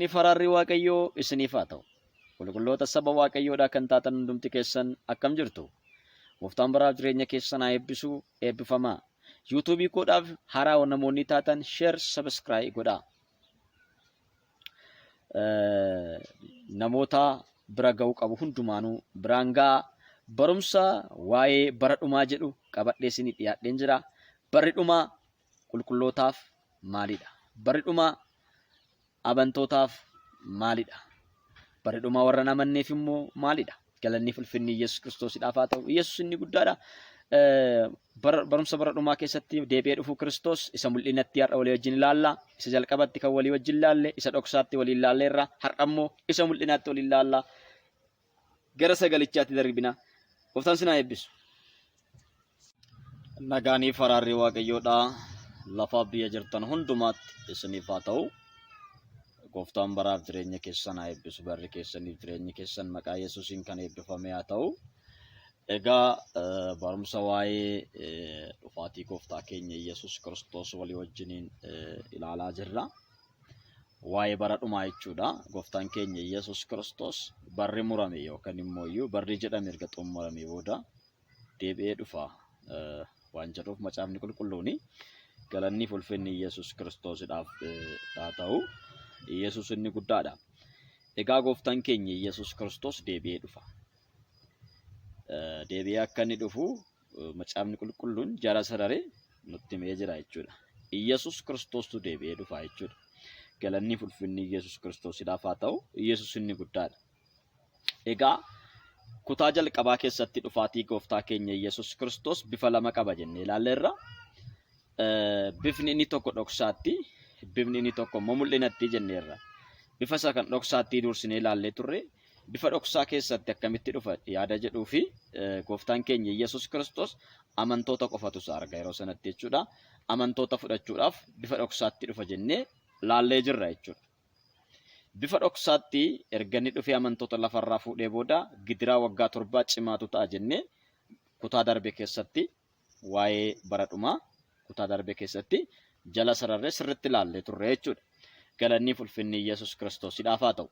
Ni faraarri Waaqayyoo isiniif haa ta'u. Qulqulloota saba Waaqayyoodhaa kan taatan hundumti keessan akkam jirtu? Gooftaan baraaf jireenya keessan haa eebbisu, eebbifamaa. Yuutuubii koodhaaf haaraa namoonni taatan sheer sabiskiraayii godhaa. Eh, Namoota bira ga'uu qabu hundumaanuu biraan ga'a. Barumsa waa'ee bara dhumaa jedhu qabadhee isinii dhiyaadheen jira. Barri dhumaa qulqullootaaf maalidha? Barri dhumaa Abantootaaf maalidha? Bara dhumaa warra hin amanneef immoo maalidha? Galanni fulfinni Yesus Kiristoosidhaaf haa ta'u. Yesus inni guddaadha. Barumsa bara dhumaa keessatti deebi'ee dhufuu Kiristoos isa mul'inatti har'a walii wajjin ilaalla. Isa jalqabatti kan walii wajjin ilaalle, isa dhoksaatti walii ilaalleerra. Har'a immoo isa mul'inaatti walii ilaalla. gara sagalichaatti darbina. Gooftaan sinaa eebbisu. Nagaanii faraarri waaqayyoodhaa lafaa biyya jirtan hundumaatti isiniif haa ta'u. Gooftaan baraaf jireenya keessan haa eebbisu. Barri keessaniif jireenyi keessan maqaa Yesuusiin kan eebbifame haa ta'u. Egaa barumsa waa'ee dhufaatii gooftaa keenya Yesuus Kiristoos walii wajjiniin ilaalaa jirra. waa'ee bara dhumaa jechuudha. Gooftaan keenya Yesuus Kiristoos barri murame yookaan immoo iyyuu barri jedhame erga xumurame booda deebi'ee dhufa eh, waan jedhuuf macaafni qulqulluun galanni fi ulfinni Yesuus Kiristoosidhaaf eh, haa ta'u. Yesuus inni guddaadha. Egaa gooftaan keenya Yesuus Kiristoos deebi'ee dhufa. Eh, Deebi'ee akka inni dhufu macaafni qulqulluun jara sararee nutti himee jira jechuudha. Iyyasuus Kiristoostu deebi'ee dhufa jechuudha. Galanni ulfinni Iyyasuus Kiristoosidhaaf haa ta'u, Iyyasuus inni guddaadha. Egaa kutaa jalqabaa keessatti dhufaatii gooftaa keenya Iyyasuus Kiristoos bifa lama qaba jennee ilaalleerra. Bifni inni tokko dhoksaatti, bifni inni tokko immoo mul'inatti jenneerra. Bifa isa kan dhoksaatti duursinee ilaallee turre, bifa dhoksaa keessatti akkamitti dhufa yaada jedhuu fi gooftaan keenya Yesuus Kiristoos amantoota qofatu isa arga yeroo sanatti jechuudha. Amantoota fudhachuudhaaf bifa dhoksaatti dhufa jennee laallee jirra jechuudha. Bifa dhoksaatti erga inni dhufee amantoota lafarraa fuudhee booda gidiraa waggaa torbaa cimaatu ta'a jennee kutaa darbe keessatti waa'ee bara dhumaa kutaa darbe keessatti jala sararree sirritti ilaallee turre jechuudha. Galanniif ulfinni Iyyasuus Kiristoosidhaaf haa ta'u.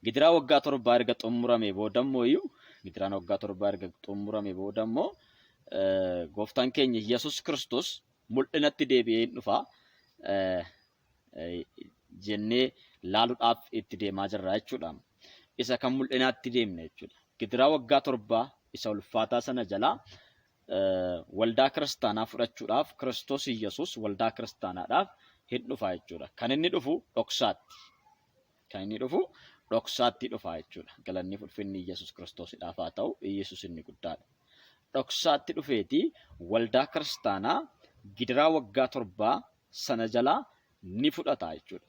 Gidiraa waggaa torbaa erga xumuramee booda immoo iyyuu gidiraan waggaa torbaa erga xumuramee booda immoo gooftaan keenya Iyyasuus Kiristoos mul'inatti deebi'ee hin dhufa. jennee laaluudhaaf itti deemaa jirra jechuudha. Isa kan mul'inaatti deemne jechuudha. Gidiraa waggaa torbaa isa ulfaataa sana jalaa waldaa kiristaanaa fudhachuudhaaf Kiristoos Iyyasuus waldaa kiristaanaadhaaf hin dhufa jechuudha. Kan inni dhufu dhoksaatti. Kan inni dhufu dhoksaatti dhufa jechuudha. Galanni ulfinni Iyyasuus Kiristoosidhaaf haa ta'u Iyyasuus inni guddaadha. Dhoksaatti dhufeeti waldaa kiristaanaa gidiraa waggaa torbaa sana jalaa ni fudhata jechuudha.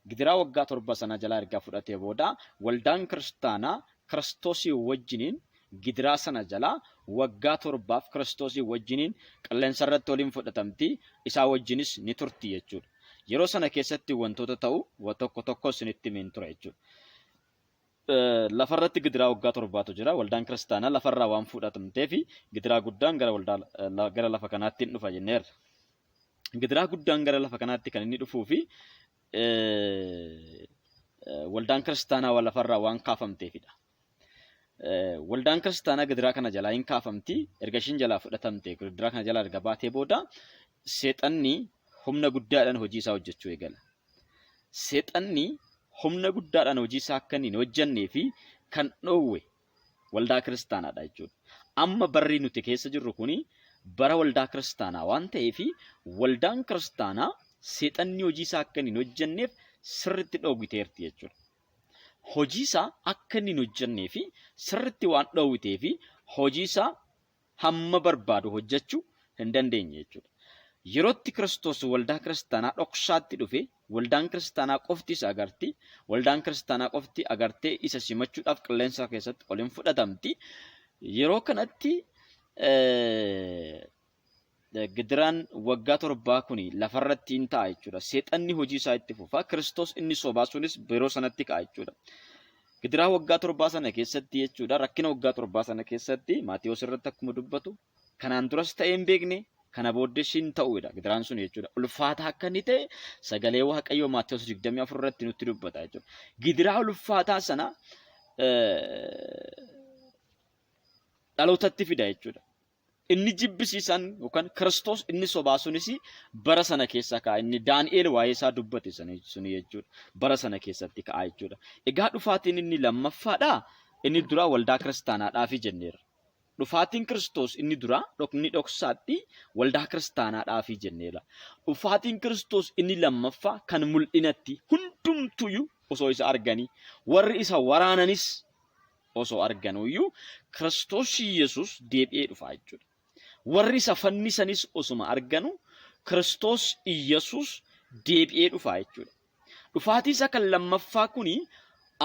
Gidiraa waggaa torba sana jalaa erga fudhatee booda waldaan kiristaanaa kiristoosii wajjiniin gidiraa sana jalaa waggaa torbaaf kiristoosii wajjiniin qilleensa irratti waliin fudhatamti isaa wajjinis ni turti jechuudha. Yeroo sana keessatti wantoota ta'u wa tokko tokko isinitti himeen ture jechuudha. Eh, Lafarratti gidiraa waggaa torbaatu jira. Waldaan kiristaanaa lafarraa waan fudhatamteef gidiraa guddaan gara waldaa eh, la- gara lafa kanaatti hin dhufa jenneerra. gidiraa guddaan gara lafa kanaatti kan inni dhufuu fi waldaan kiristaanaa waan lafarraa waan kaafamteefidha. Waldaan kiristaanaa gidiraa kana jalaa hin kaafamti. Erga ishiin jalaa fudhatamte gidiraa kana jalaa erga baatee booda seexanni humna guddaadhaan hojii isaa hojjechuu eegala. Seexanni humna guddaadhaan hojii isaa akka inni hin hojjennee fi kan dhoowwe Waldaa kiristaanaadha jechuudha. Amma barri nuti keessa jirru kun bara waldaa kiristaanaa waan ta'eef waldaan kiristaanaa seexanni hojii isaa akka inni hin hojjenneef sirriitti dhoowwiteerti jechuudha. Hojii isaa akka inni hin hojjennee fi sirriitti waan dhoowwitee fi hojii isaa hamma barbaadu hojjechuu hin dandeenye jechuudha. Yerootti Kiristoos waldaa kiristaanaa dhoksaatti dhufe, waldaan kiristaanaa qofti isa agarti, waldaan kiristaanaa qofti agartee isa simachuudhaaf qilleensa keessatti ol hin fudhatamti. Yeroo kanatti Gidiraan waggaa torbaa kuni lafarratti in ta'a jechuudha. Seexanni hojii isaa itti fufa. Kiristoos inni sobaa sunis yeroo sanatti ka'a jechuudha. Gidiraa waggaa torbaa sana keessatti jechuudha. Rakkina waggaa torbaa sana keessatti Maatewos irratti akkuma dubbatu kanaan duras ta'ee hin beekne kana booddees hin ta'uudha gidiraan sun jechuudha. Ulfaataa akka inni ta'e sagalee Waaqayyoo Maatewos 24 irratti nutti dubbata jechuudha. Gidiraa ulfaataa sana dhalootatti fida jechuudha. Inni jibbisiisaan yookaan Kiristoos inni sobaa sunis bara sana keessa ka'a. Inni Daani'eel waa'ee isaa dubbate sana- suni jechuudha. Bara sana keessatti ka'a jechuudha. Egaa dhufaatiin inni lammaffaadhaa? Inni duraa waldaa kiristaanaadhaafi jenneerra. Dhufaatiin Kiristoos inni duraa dhok- inni dhoksaatti waldaa kiristaanaadhaafi jenneerra. Dhufaatiin Kiristoos inni lammaffaa kan mul'inatti hundumtuyyuu osoo isa arganii warri isa waraananis osoo arganuu iyyuu Kiristoos Yesuus deebi'ee dhufa jechuudha. Warri isa fannisanis osuma arganu Kiristoos Yesuus deebi'ee dhufa jechuudha. Dhufaatii isa kan lammaffaa kuni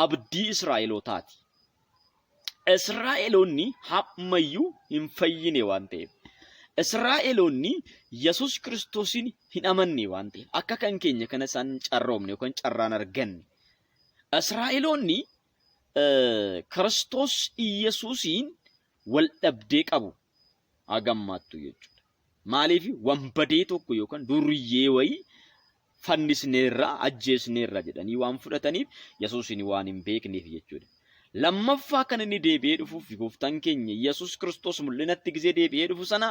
abdii Israa'elootaati. Israa'eloonni hammayyuu hin fayyine waan ta'eef. Israa'eloonni Yesuus Kiristoosiin hin amanne waan ta'eef akka kan keenya kana isaan carroomne yookaan carraan arganne. Israa'eloonni Kiristoos Iyyasuusiin wal dhabdee qabu hagammaattu jechuudha. Maaliif wanbadee tokko yookaan duriyyee wayii fannisneerra ajjeesneerra jedhanii waan fudhataniif Yesuusiin waan hin beekneef jechuudha. Lammaffaa kan inni deebi'ee dhufuuf gooftaan keenya Yesuus Kiristoos mul'inatti gisee deebi'ee dhufu sana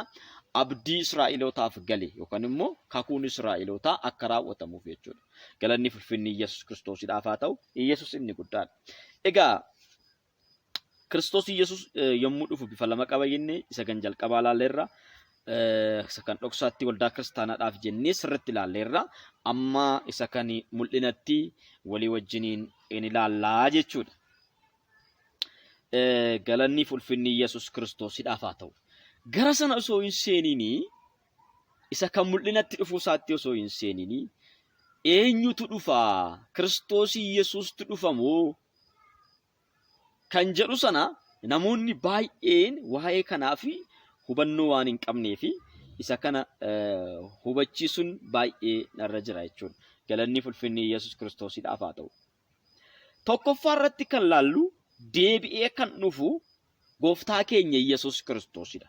abdii Israa'elootaaf gale yookaan immoo kakuun Israa'elootaa akka raawwatamuuf jechuudha. Galanni fulfinni Iyyasuus Kiristoosidhaaf haa ta'u, Iyyasuus inni guddaadha. Egaa Kiristoos Iyyasuus yommuu dhufu bifa lama qaba jenne isa kan jalqabaa ilaalleerra. Isa kan dhoksaatti waldaa kiristaanaadhaaf jennee sirriitti ilaalleerra. Amma isa kan mul'inatti walii wajjiniin in ilaallaa jechuudha. Galanni fulfinni Iyyasuus Kiristoosidhaaf haa ta'u. Gara sana osoo hin seeniinii isa kan mul'inatti dhufuu isaatti osoo hin seenini eenyutu dhufa kiristoosii yesuustu dhufa moo kan jedhu sana namoonni baay'een waa'ee kanaaf hubannoo waan hin qabnee fi isa kana hubachiisuun baay'ee narra jira jechuudha. Galanni fulfinni Yesuus Kiristoosiidhaaf haa ta'u. Tokkoffaa irratti kan laallu deebi'ee kan dhufu gooftaa keenya Yesuus Kiristoosiidha.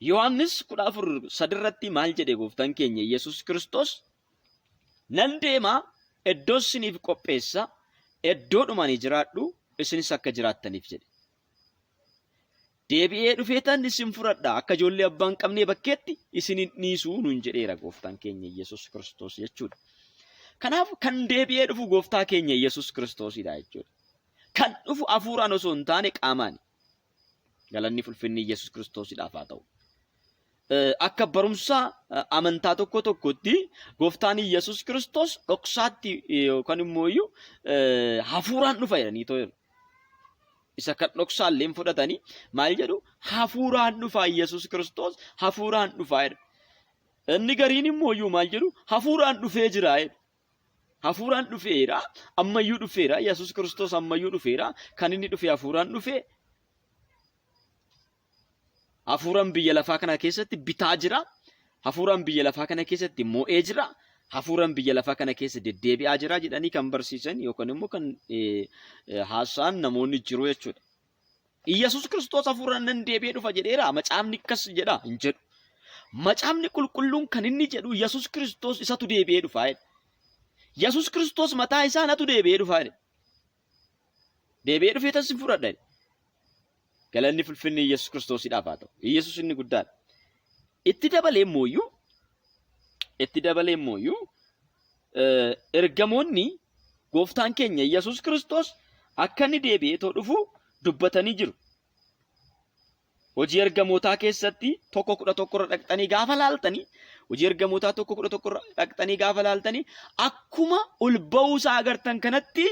Yohaannis 14:3 irratti maal jedhe gooftaan keenya Yesuus Kiristoos? Nan deema iddoo isiniif qopheessa iddoodhuma ani jiraadhu isinis akka jiraattaniif jedhe. Deebi'ee dhufeetan isin fudhadha akka ijoollee abbaa hin qabnee bakkeetti isin hin dhiisu nuun jedheera gooftaan keenya Yesuus Kiristoos jechuudha. Kanaaf kan deebi'ee dhufu gooftaa keenya Yesuus Kiristoosidha jechuudha. Kan dhufu hafuuraan osoo hin taane qaamaani. Galanni fulfinni Yesus Kiristoosidhaaf haa ta'u. Akka barumsa amantaa tokko tokkotti gooftaan Yesus Kiristoos dhoksaatti yookaan immoo iyyuu hafuuraan dhufa jedhanii too jedhu. Isa kan dhoksaallee fudhatanii maal jedhu hafuuraan dhufaa Yesus Kiristoos hafuuraan dhufaa jedhu. Inni gariin immoo iyyuu maal jedhu hafuuraan dhufee jira jedhu. Hafuuraan dhufeera, ammayyuu dhufeera, Yesuus Kiristoos ammayyuu dhufeera, kan inni dhufe hafuuraan dhufe. Hafuuraan biyya lafaa kana keessatti bitaa jira, hafuuraan biyya lafaa kana keessatti mo'ee jira, hafuuraan biyya lafaa kana keessa deddeebi'aa jira jedhanii kan barsiisan yookaan immoo kan haasa'an namoonni jiru jechuudha. Iyyasuus Kiristoos hafuuraan nan deebi'ee dhufa jedheera macaafni akkas jedha hin jedhu. Macaafni qulqulluun kan inni jedhu Iyyasuus Kiristoos isatu deebi'ee dhufa jedha. Iyyasuus Kiristoos mataa isaa natu deebi'ee dhufa jedha. Deebi'ee dhufee tan sin fudhadha jedha. Galanni fulfinni Iyyasuus Kiristoosidhaaf haa ta'u. Iyyasuus inni guddaadha. Itti dabalee immoo iyyuu Itti dabalee immooyyuu eh, ergamoonni gooftaan keenya Yesuus Kiristoos akka inni deebi'ee too dhufu dubbatanii jiru. Hojii ergamootaa keessatti tokko kudha tokkorra dhaqxanii gaafa laaltanii hojii ergamootaa tokko kudha tokkorra dhaqxanii gaafa laaltanii akkuma ol ba'uu isaa agartan kanatti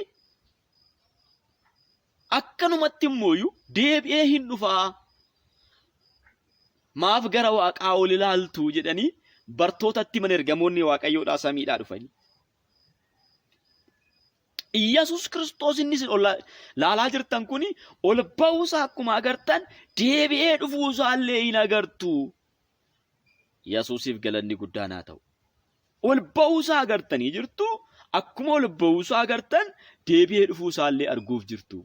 Akkanumatti immooyu deebi'ee hin dhufaa. Maaf gara waaqaa ol ilaaltu jedhanii bartootatti himan ergamoonni waaqayyoodhaa samiidhaa dhufanii. Iyyasuus Kiristoos inni isin ol laalaa jirtan kun ol ba'uusaa akkuma agartan deebi'ee dhufuusaallee hin agartu. Yesuusiif galanni guddaan haa ta'u. Ol ba'uusaa agartanii jirtu. Akkuma ol ba'uusaa agartan deebi'ee dhufuusaallee arguuf jirtu.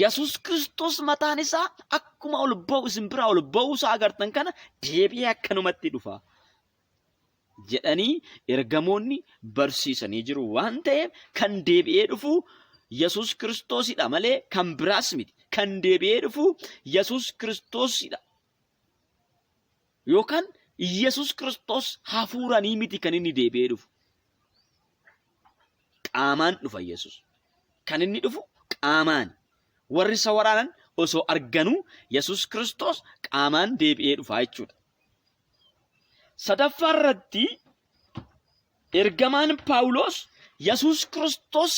Yesuus Kiristoos mataan isaa akkuma ol ba'u isin biraa ol ba'uusaa agartan kana deebi'ee akkanumatti dhufa. Jedhanii ergamoonni barsiisanii jiru waan ta'eef kan deebi'ee dhufu Yesuus Kiristoosidha malee kan biraas miti. Kan deebi'ee dhufu Yesuus Kiristoosidha. Yookaan Yesus Kiristoos hafuuranii miti kan inni deebi'ee dhufu. Qaamaan dhufa Yesus. Kan inni dhufu qaamaan. Warri isa waraanan osoo arganuu Yesus Kiristoos qaamaan deebi'ee dhufa jechuudha. Sadaffaa irratti ergamaan Paawuloos Yesus Kiristoos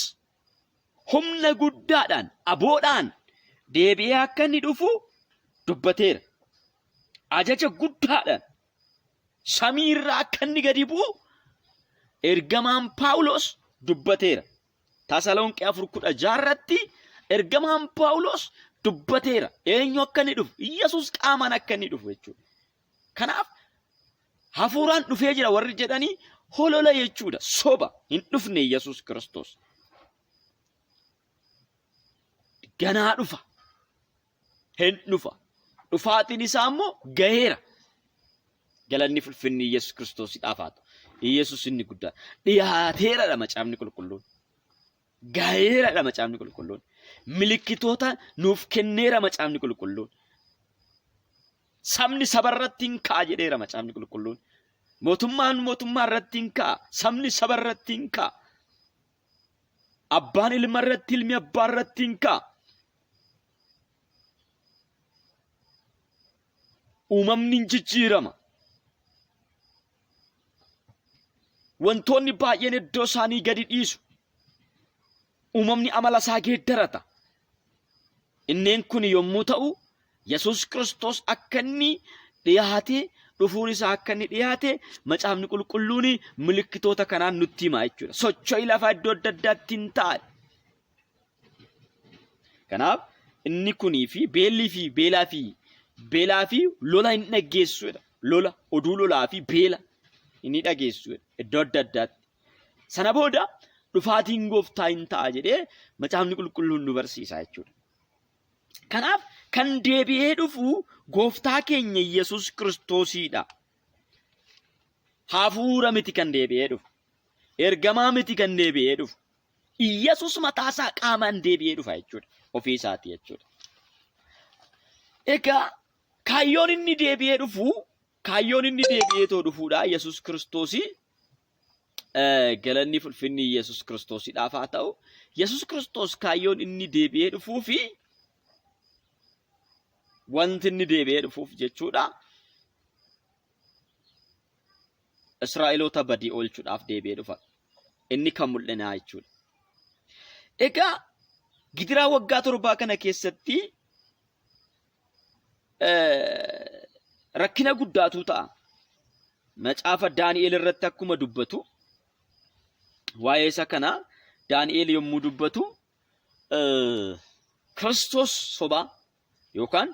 humna guddaadhaan aboodhaan deebi'ee akka inni dhufu dubbateera. Ajaja guddaadhaan samii irraa akka inni gadi bu'u ergamaan Paawulos dubbateera. Tasalonqee afur kudha jaarratti ergamaan Paawulos dubbateera. Eenyu akka inni dhufu? Yesus qaamaan akka inni dhufu jechuudha. Kanaaf hafuuraan dhufee jira warri jedhanii holola jechuudha. Soba hin dhufne Yesuus Kiristoos. Ganaa dhufa. Hin dhufa. Dhufaatiin isaa immoo gaheera. Galanni fulfinni Yesuus Kiristoos dhaaf haa ta'u. Yesuus inni guddaa dhiyaateeradha macaafni qulqulluun. gaheeradha macaafni qulqulluun. Milikkitoota nuuf kenneera macaafni qulqulluun. Sabni saba irratti hin ka'a jedheera macaafni qulqulluun. Mootummaan mootummaa irratti hin ka'a. Sabni saba irratti hin ka'a. Abbaan ilma irratti ilmi abbaa irratti hin ka'a. Uumamni hin jijjiirama. Wantoonni baay'een iddoo isaanii gadi dhiisu. Uumamni amala isaa geeddarata. Inneen kun yommuu ta'u, Yesuus Kiristoos akka inni dhiyaate, dhufuun isaa akka inni dhiyaate, macaafni qulqulluun milikkitoota kanaan nutti hima jechuudha. Socho'i lafaa iddoo adda addaatti hin taa'e. Kanaaf inni kunii fi beellii fi beelaa fi beelaa fi lola hin dhaggeessuudha. Lola, oduu lolaa fi beela inni dhageessuudha. Iddoo adda addaatti. Sana booda dhufaatiin gooftaa hin ta'a jedhee macaafni qulqulluun nu barsiisa jechuudha. Kanaaf kan deebi'ee dhufu gooftaa keenya Yesuus Kiristoosiidha. Hafuura miti kan deebi'ee dhufu. Ergamaa miti kan deebi'ee dhufu. Yesus mataa isaa qaamaan deebi'ee dhufa jechuudha. Ofii isaati jechuudha. Egaa kaayyoon inni deebi'ee dhufu kaayyoon inni deebi'ee too dhufuudha. Yesus Kiristoosii galanni fulfinni Yesus Kiristoosidhaaf haa ta'u. Yesus Kiristoos kaayyoon inni deebi'ee dhufuu fi wanti inni deebi'ee dhufuuf jechuudha. Israa'eloota badii oolchuudhaaf deebi'ee dhufa. Inni kan mul'inaa jechuudha. Egaa gidiraa waggaa torbaa kana keessatti rakkina guddaatu ta'a. Macaafa Daani'eel irratti akkuma dubbatu waa'ee isa kana Daani'eel yommuu dubbatu Kiristoos sobaa yookaan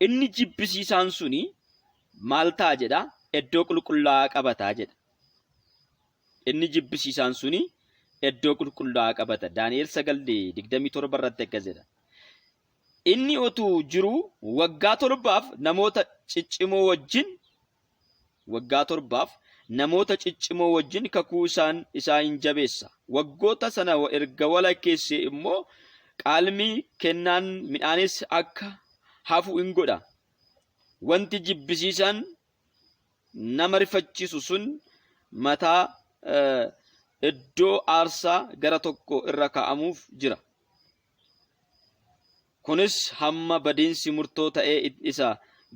inni jibbisiisaan suni maal ta'a jedha iddoo qulqullaa'aa qabata jedha. Inni jibbisiisaan suni iddoo qulqullaa'aa qabata. Daani'el 9:27 irratti akkas jedha. Inni otuu jiruu waggaa torbaaf namoota ciccimoo wajjin Waggaa torbaaf namoota ciccimoo wajjin kakuu isaan isaa in jabeessa. Waggoota sana erga walakkeessee immoo qaalmii, kennaan midhaanis akka hafu in godha. Wanti jibbisiisaan nama rifachiisu sun mataa eh, iddoo aarsaa gara tokko irra kaa'amuuf jira. Kunis hamma badiinsi murtoo ta'ee isa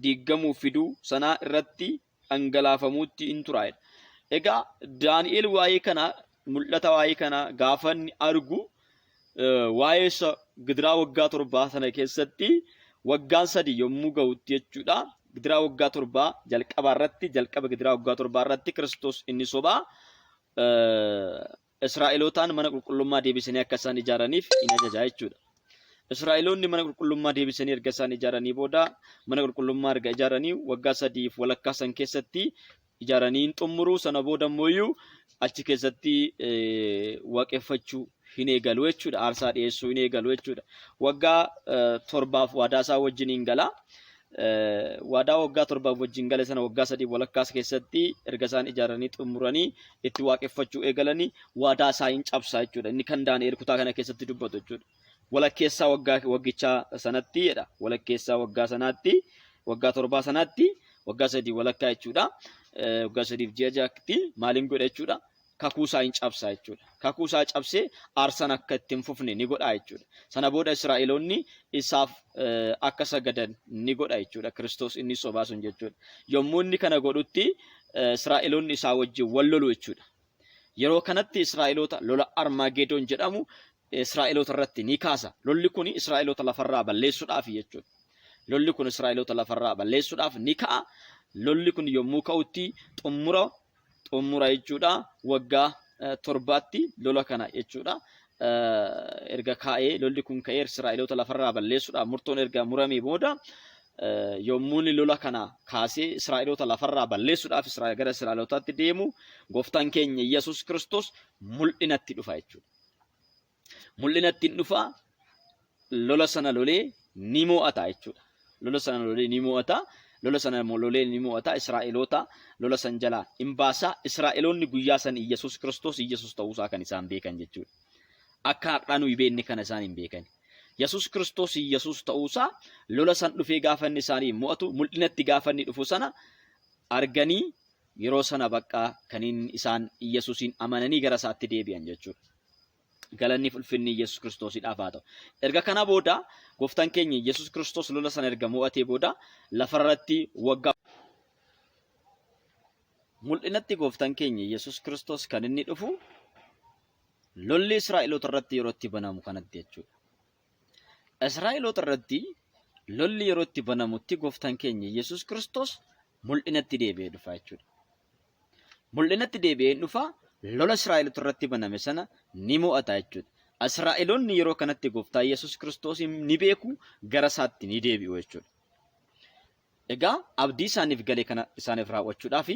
diiggamuuf fiduu sanaa irratti dhangalaafamuutti in turaa'edha. Egaa Daani'eel waa'ee kana mul'ata waa'ee kana gaafa inni argu waa'ee isa gidiraa waggaa torbaa sana keessatti waggaan sadii yommuu ga'utti jechuudha. Gidiraa waggaa torbaa jalqabaa irratti jalqaba gidiraa waggaa torbaa irratti Kiristoos inni sobaa Israa'elootaan mana qulqullummaa deebisanii akka isaan ijaaraniif in ajaja jechuudha. Israa'eloonni mana qulqullummaa deebisanii erga isaan ijaaranii booda mana qulqullummaa erga ijaaranii waggaa sadiif walakkaa san keessatti ijaaranii hin xumuru sana booda immoo iyyuu achi keessatti waaqeffachuu hin eegalu jechuudha. Aarsaa dhiyeessuu hin eegalu jechuudha. Waggaa torbaaf waadaa isaa wajjin hin gala. waadaa waggaa torbaaf wajjin gale sana waggaa sadii walakkaas keessatti erga isaan ijaaranii xumuranii itti waaqeffachuu eegalanii waadaa isaa hin cabsaa jechuudha. Inni kan Daani'eel kutaa kana keessatti dubbatu jechuudha. Walakkeessaa waggaa waggichaa sanatti jedha. Walakkeessaa waggaa sanaatti waggaa torbaa sanaatti waggaa sadii walakkaa jechuudha. Waggaa sadiif ji'a ja'atti maaliin godha jechuudha. kakuu isaa in cabsa jechuudha. Kakuu isaa cabsee aarsan akka itti hin fufne ni godha jechuudha. Sana booda Israa'eloonni isaaf akka sagadan ni godha jechuudha. Kiristoos inni sobaa sun jechuudha. Yommuu inni kana godhutti Israa'eloonni isaa wajjin wal lolu jechuudha. Yeroo kanatti Israa'eloota lola Armaageedoon jedhamu Israa'eloota irratti ni kaasa. Lolli kun Israa'eloota lafarraa balleessuudhaaf jechuudha. Lolli kun Israa'eloota lafarraa balleessuudhaaf ni ka'a. Lolli kun yommuu ka'utti xumura xumura jechuudha waggaa eh, torbaatti lola kana jechuudha. Eh, Erga kaa'ee lolli kun ka'ee Israa'eloota lafarraa balleessuudhaaf murtoon erga muramee booda eh, yommuu inni lola kana kaasee Israa'eloota lafarraa balleessuudhaaf Israa- gara Israa'elootaatti deemu gooftaan keenya Yesuus Kiristoos mul'inatti dhufa jechuudha. mul'inatti hin dhufa lola sana lolee ni mo'ata jechuudha. Lola sana lolee ni mo'ata. Lola sana lolee ni mo'ata. Israa'eloota lola san jalaa hin baasa. Israa'eloonni guyyaa san Iyyasuus Kiristoos Iyyasuus ta'uusaa kan isaan beekan jechuudha. Akka har'aa nuyi beekne kana isaan hin beekani. Yesuus Kiristoos Iyyasuus ta'uusaa lola san dhufee gaafa inni isaanii mo'atu mul'inatti gaafa inni dhufu sana arganii Yeroo sana baqqaa kaniin isaan Yesuusiin amananii gara isaatti deebi'an jechuudha. Galanni fi ulfinni Yesuus Kiristoosiidhaaf haa ta'u. Erga kana booda gooftaan keenya Yesuus Kiristoos lola sana erga mo'atee booda lafarratti waggaa mul'inatti gooftaan keenya Yesuus Kiristoos kan inni dhufu lolli Israa'eloota irratti yeroo itti banamu kanatti jechuudha. Israa'eloota irratti lolli yeroo itti banamutti gooftaan keenya Yesuus Kiristoos mul'inatti deebi'ee dhufa jechuudha. Mul'inatti deebi'ee dhufa lola Israa'eloota irratti baname sana ni mo'ata jechuudha. Israa'eloonni yeroo kanatti gooftaa Yesuus Kiristoos ni beeku gara isaatti ni deebi'u jechuudha. Egaa abdii isaaniif gale kana isaaniif raawwachuudhaaf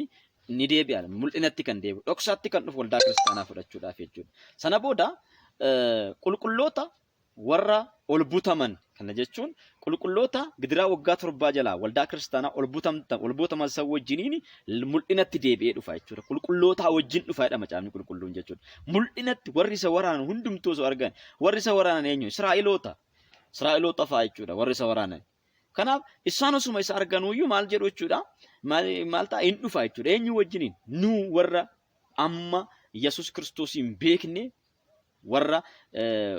ni deebi'a. Mul'inatti kan deebi'u, dhoksaatti kan dhufu waldaa kiristaanaa fudhachuudhaaf jechuudha. Sana booda qulqulloota warra ol butaman kana jechuun qulqulloota gidiraa waggaa torbaa jalaa waldaa kiristaanaa ol butamta ol butaman san wajjiniin mul'inatti deebi'ee dhufa jechuudha. Qulqullootaa wajjin dhufa jedha macaafni qulqulluun jechuudha. Mul'inatti warri isa waraanan hundumtuu osoo argan warri isa waraanan eenyu? Israa'eloota. Israa'eloota fa'a jechuudha warri isa waraanan. Kanaaf isaan osuma isa arganuuyyuu maal jedhu jechuudha? Maal maal ta'a? Hin dhufa jechuudha. Eenyu wajjiniin? Nu warra amma Yesus Kiristoosiin beekne warra eh,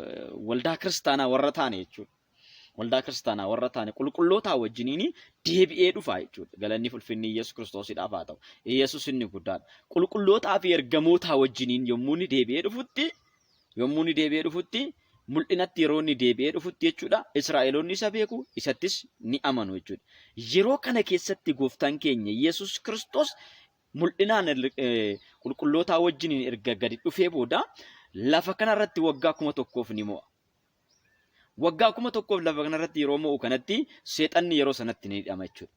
waldaa kiristaanaa warra taane jechuudha. Waldaa kiristaanaa warra taane qulqullootaa wajjiniin deebi'ee dhufa jechuudha. Galanni fulfinni Yesus Kiristoosidhaaf haa ta'u. Yesus inni guddaadha. Qulqullootaa fi ergamootaa wajjiniin yommuu inni deebi'ee dhufutti Yommuu inni deebi'ee dhufutti, mul'inatti yeroo inni deebi'ee dhufutti jechuudha, Israa'eloonni isa beeku, isattis ni amanu jechuudha. Yeroo kana keessatti gooftaan keenya Yesus Kiristoos mul'inaan qulqullootaa wajjiniin erga gadi dhufee booda lafa kanarratti waggaa kuma tokkoof ni mo'a. Waggaa kuma tokkoof lafa kanarratti yeroo mo'u kanatti seexanni yeroo sanatti ni hidhama jechuudha.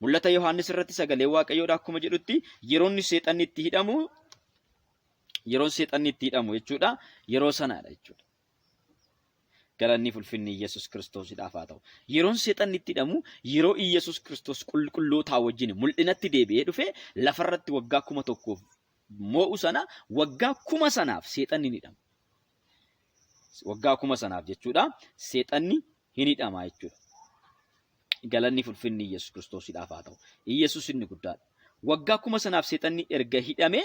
Mul'ata Yohaannis irratti sagalee Waaqayyoodha akkuma jedhutti yeroonni seexanni itti hidhamu Yeroon seexanni itti hidhamu jechuudha. Yeroo sanaadha jechuudha. Galanni ulfinni Iyyasuus Kiristoosidhaaf haa ta'u. Yeroon seexanni itti hidhamu yeroo Iyyasuus Kiristoos qulqullootaa wajjin mul'inatti deebi'ee dhufe lafarratti waggaa kuma tokkoof moo'u sana waggaa kuma sanaaf seexanni ni hidhama. waggaa kuma sanaaf jechuudha seexanni hin hidhama jechuudha. Galanni fulfinni Iyyasuus Kiristoosidhaaf haa ta'u. Iyyasuus inni guddaadha. Waggaa kuma sanaaf seexanni erga hidhame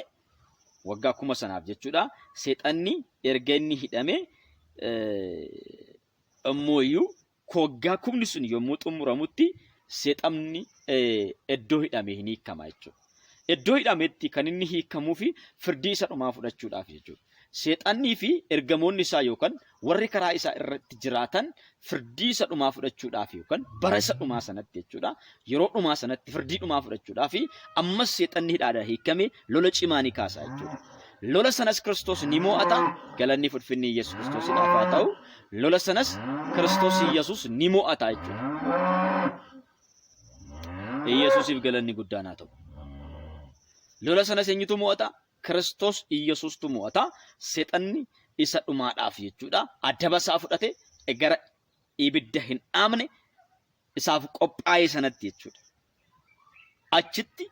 waggaa kuma sanaaf jechuudha seexanni erga inni hidhame immoo iyyuu Waggaa kumni sun yommuu xumuramutti seexamni iddoo hidhamee hin hiikama jechuudha. Iddoo hidhametti kan inni hiikamuu fi firdii isa dhumaa fudhachuudhaaf jechuudha. Seexannii fi ergamoonni isaa yookaan warri karaa isaa irratti jiraatan firdii isa dhumaa fudhachuudhaaf yookaan bara isa dhumaa sanatti jechuudha yeroo dhumaa sanatti firdii dhumaa fudhachuudhaa fi ammas seexanni hidhaadha hiikkame lola cimaa ni kaasa jechuudha. Lola sanas Kiristoos ni mo'ata galanni fudfinni Yesuus Kiristoos hidhaaf haa ta'u. Lola sanas Kiristoos Yesuus ni mo'ata jechuudha. Yesuusiif galanni guddaan haa ta'u. Lola sanas eenyutu mo'ata? Kiristoos Yesuustu mo'ata. Seexanni isa dhumaadhaaf jechuudha. Adaba isaa fudhate gara ibidda hin dhaamne isaaf qophaa'ee sanatti jechuudha. Achitti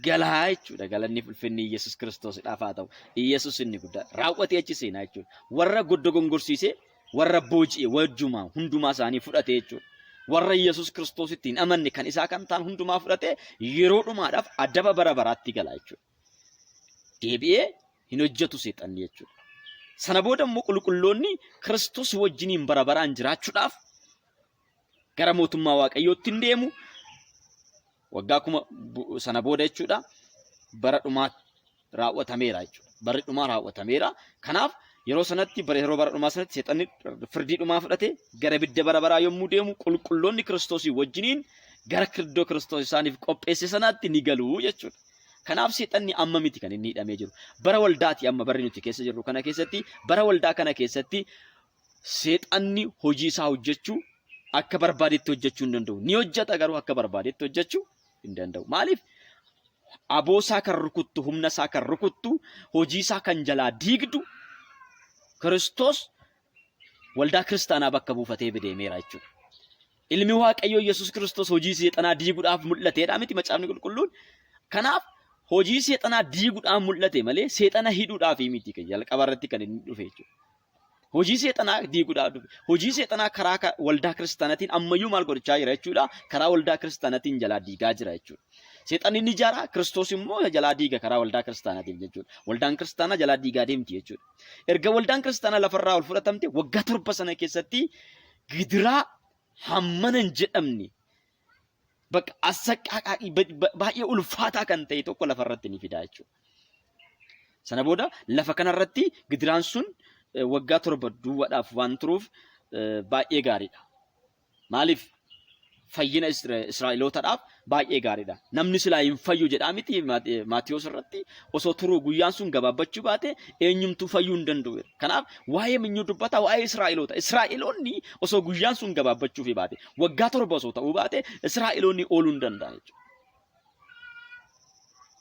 galaa jechuudha. Galanni ulfinni Iyyasuus Kiristoosidhaaf haa ta'u. Iyyasuus inni guddaa raawwatee achi seenaa jechuudha. Warra goddogongorsiisee warra booji'e wajjumaa hundumaa isaanii fudhatee jechuudha. Warra Iyyasuus Kiristoositti hin amanne kan isaa kan ta'an hundumaa fudhatee yeroo dhumaadhaaf adaba bara baraatti galaa jechuudha. deebi'ee hin hojjetu seexanni jechuudha. Sana booda immoo qulqulloonni Kiristoos wajjiniin bara baraan jiraachuudhaaf gara mootummaa Waaqayyootti hin deemu. Waggaa kuma sana booda jechuudha bara dhumaa raawwatameera jechuudha. Barri dhumaa raawwatameera. Kanaaf yeroo sanatti bara yeroo bara dhumaa sanatti seexanni firdii dhumaa fudhate gara bidda bara baraa yommuu deemu qulqulloonni Kiristoosii wajjiniin gara kirdoo Kiristoos isaaniif qopheesse sanaatti ni galu jechuudha. Kanaaf seexanni amma miti kan inni hidhamee jiru. Bara waldaati amma barri nuti keessa jirru kana keessatti bara waldaa kana keessatti seexanni hojii isaa hojjechuu akka barbaadetti hojjechuu hin danda'u. Ni hojjeta garuu akka barbaadetti hojjechuu hin danda'u. Maaliif? Aboo isaa kan rukuttu, humna isaa kan rukuttu, hojii isaa kan jalaa diigdu Kiristoos waldaa kiristaanaa bakka buufatee bideemeera jechuudha. Ilmi Waaqayyoo Yesuus Kiristoos hojii seexanaa diiguudhaaf mul'ateedha miti macaafni qulqulluun. Kanaaf hojii seexanaa diiguudhaan mul'ate malee seexana hidhuudhaaf miti kan jalqaba irratti kan inni dhufe jechuudha. Hojii seexanaa diiguudhaaf dhufe. Hojii seexanaa karaa ka- waldaa kiristaanatiin ammayyuu maal godhachaa jira jechuudha. Karaa waldaa kiristaanatiin jalaa diigaa jira jechuudha. Seexanni ni ijaara, Kiristoos immoo jalaa diiga karaa waldaa kiristaanatiin jechuudha. Waldaan kiristaanaa jalaa diigaa deemti jechuudha. Erga waldaan kiristaanaa lafarraa ol fudhatamte waggaa torba sana keessatti gidiraa hammana hin jedhamne bakka assaqqaaqaa baay'ee ulfaataa kan ta'e tokko lafarratti ni fidaa jechuudha. Sana booda lafa kanarratti gidiraan sun waggaa torba duwwaadhaaf waan turuuf baay'ee gaariidha. Maaliif? Fayyina Israa'elootadhaaf baay'ee gaariidha. Namni silaa hin fayyu jedhaa miti Maatiyoos irratti osoo turuu guyyaan sun gabaabbachuu baate eenyumtuu fayyuu hin danda'u. Kanaaf waa'ee minyuu dubbata waa'ee Israa'eloota. Israa'eloonni osoo guyyaan sun gabaabbachuuf baate waggaa torba osoo ta'uu baate Israa'eloonni ooluu hin danda'an jechuudha.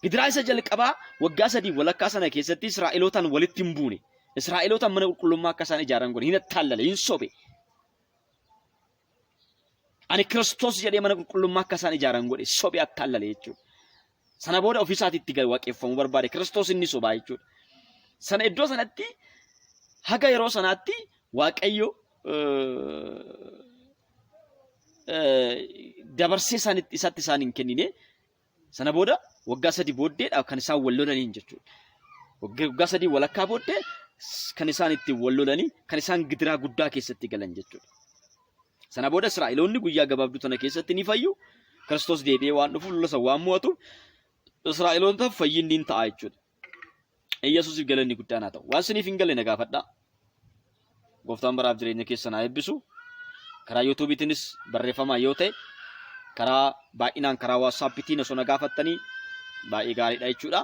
Gidiraa isa jalqabaa waggaa sadii walakkaa sana keessatti Israa'elootaan walitti hin buune. Israa'elootaan mana qulqullummaa akka isaan ijaaran godhe hin attaalle hin sobe. Ani Kiristoos jedhee mana qulqullummaa akka isaan ijaaran godhe sobe attaallalee jechuudha. Sana booda ofii isaatii itti gad waaqeffamuu barbaade Kiristoos inni sobaa jechuudha. Sana iddoo sanatti haga yeroo sanaatti Waaqayyo dabarsee isatti isaan hin kennine Sana booda waggaa sadii booddeedha kan isaan wal lolaniin jechuudha. Waggaa sadii walakkaa booddee kan isaan itti wal lolanii kan isaan gidiraa guddaa keessatti galan jechuudha. Sana booda Israa'eloonni guyyaa gabaabduu tana keessatti ni fayyu. Kiristoos deebi'ee waan dhufuuf lola san waan mo'atuuf Israa'eloontaaf fayyinni hin ta'a jechuudha. Iyyasuusiif galanni guddaan haa ta'u. Waan siniif hin galle na gaafadhaa. Gooftaan baraaf jireenya keessan haa eebbisu. Karaa yuutuubiitiinis barreeffamaa yoo ta'e karaa baay'inaan karaa waatsaappiitiin osoo na gaafattanii baay'ee gaariidha jechuudha.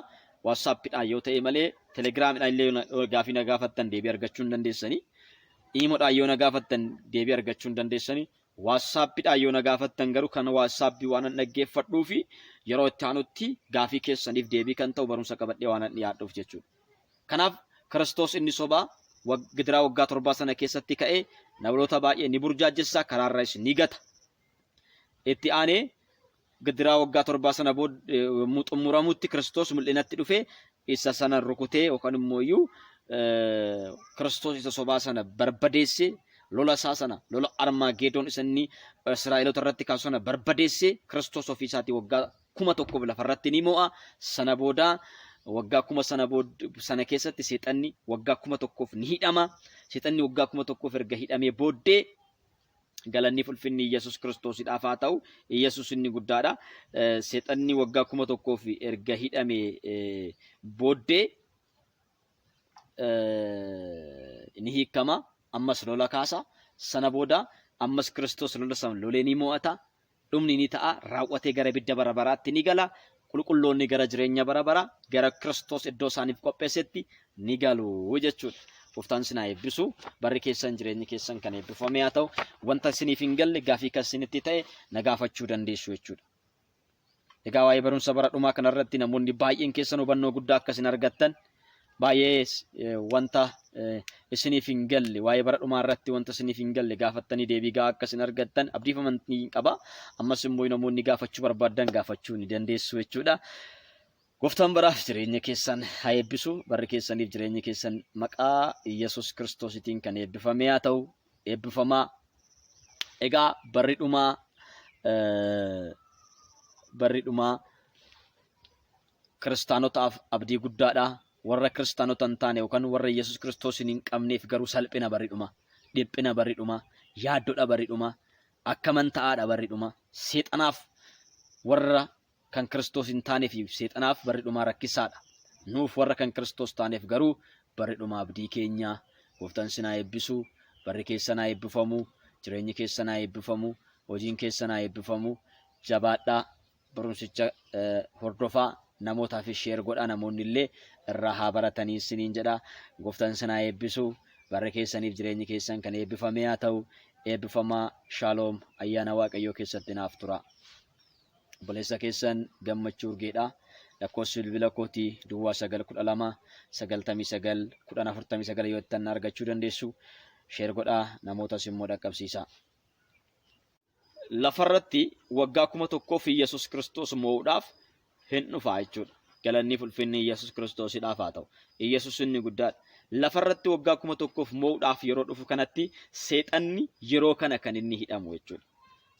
Waatsaappiidhaan yoo ta'e malee telegiraamiidhaan illee yoo gaafii na gaafattan deebii argachuu hin dandeessanii. Iimoodhaan yoo na gaafattan deebii argachuu hin dandeessanii. WhatsApp dhaan yoo na gaafattan garuu kan WhatsApp waanan dhaggeeffadhuufi yeroo itti aanutti gaafii keessaniif deebii kan ta'u barumsa qabadhee waanan dhiyaadhuuf jechuudha. Kanaaf Kiristoos inni sobaa wag- gidiraa waggaa torbaa sana keessatti ka'ee namoota baay'ee ni burjaajjessa, karaarraayis ni gata. Itti aanee Gidiraa waggaa torbaa sana booda yommuu xumuramutti Kiristoos mul'inatti dhufee isa sana rukutee yookaan immoo iyyuu Kiristoos isa sobaa sana barbadeessee lola isaa sana lola Armaageedoon isa inni Israa'eloota irratti kaasu sana barbadeessee Kiristoos ofii isaatii waggaa kuma tokkoof lafarratti ni mo'a. Sana booda waggaa kuma sana booda sana keessatti seexanni waggaa kuma tokkoof ni hidhama. Seexanni waggaa kuma tokkoof erga hidhamee booddee Galanniif ulfinni Iyyasuus Kiristoosidhaaf haa ta'u. Iyyasuus inni guddaadha. Seexanni waggaa kuma tokkoof erga hidhame booddee ni hiikama. Ammas lola kaasa. Sana booda ammas Kiristoos lola sana lolee ni mo'ata. Dhumni ni ta'a, raawwatee gara ibidda bara baraatti ni gala, qulqulloonni gara jireenya bara baraa, gara Kiristoos iddoo isaaniif qopheessetti ni galu jechuudha. Gooftaan isin haa eebbisu. Barri keessan jireenyi keessan kan eebbifame haa ta'u. Wanta isiniif hin galle gaafii kan isinitti ta'e na gaafachuu dandeessu jechuudha. Egaa waa'ee barumsa bara dhumaa kanarratti namoonni baay'een keessan hubannoo guddaa akka isin argattan baay'ee eh, wanta eh, isiniif hin galle waa'ee bara dhumaa irratti wanta isiniif hin galle gaafattanii deebii gahaa akka isin argattan abdiif amantii hin qaba ammas immoo namoonni gaafachuu barbaadan gaafachuu ni dandeessu jechuudha. Gooftaan baraaf jireenya keessan haa eebbisu barri keessaniif jireenya keessan maqaa Yesuus Kiristoositiin kan eebbifamee haa ta'u eebbifamaa egaa barri dhumaa eh, barri dhumaa Kiristaanotaaf abdii guddaadha, warra Kiristaanota hin taane yookaan warra Yesus Kiristoosin hin qabneef garuu salphina barri dhuma, dhiphina barri dhuma, yaaddodha barri dhuma, akkaman ta'aadha barri dhuma, seexanaaf warra kan Kiristoos hin taaneefiif seexanaaf barri dhumaa rakkisaadha. Nuuf warra kan Kiristoos taaneef garuu barri dhumaa abdii keenya. Gooftaan isin haa eebbisu, barri keessan haa eebbifamu, jireenyi keessan haa eebbifamu, hojiin keessan haa eebbifamu. Jabaadhaa! Barumsicha hordofaa namootaafis sheer godhaa namoonni illee irraa haa baratanii isiniin jedha. Gooftaan isin haa eebbisu. Barri keessaniif jireenyi keessan kan eebbifamee haa ta'u. Eebbifamaa shaaloom ayyaana waaqayyoo keessatti naaf tura. Obboleessa keessan gammachuu urgeedha. Lakkoofsi bilbila kooti duwwaa sagal kudha lama sagaltamii sagal kudhan afurtamii sagal yoo ittan argachuu dandeessu sheer godhaa namootas immoo dhaqqabsiisaa. lafarratti waggaa kuma tokkoo fi Yesus Kiristoos moo'uudhaaf hin dhufaa jechuudha. Galannii fulfinni Yesus Kiristoosidhaaf haa ta'u. Yesus inni guddaadha. Lafarratti waggaa kuma tokkoof moo'uudhaaf yeroo dhufu kanatti seexanni yeroo kana kan inni hidhamu jechuudha.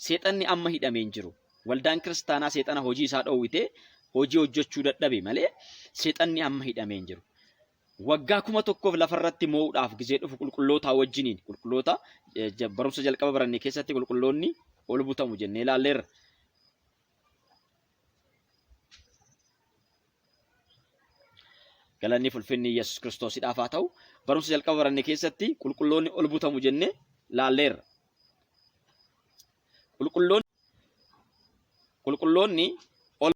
Seexanni amma hidhamee hin jiru. Waldaan kiristaanaa seexana hojii isaa dhoowwitee hojii hojjechuu dadhabe malee seexanni amma hidhamee hin jiru. Waggaa kuma tokkoof lafa irratti moo'uudhaaf gizee dhufu qulqullootaa wajjiniin qulqulloota barumsa jalqaba baranne keessatti qulqulloonni ol butamu jennee ilaalleerra. Galanni fulfinni Yesuus Kiristoosidhaaf haa ta'u barumsa jalqaba baranne keessatti qulqulloonni ol butamu jennee ilaalleerra. Qulqulloonni ol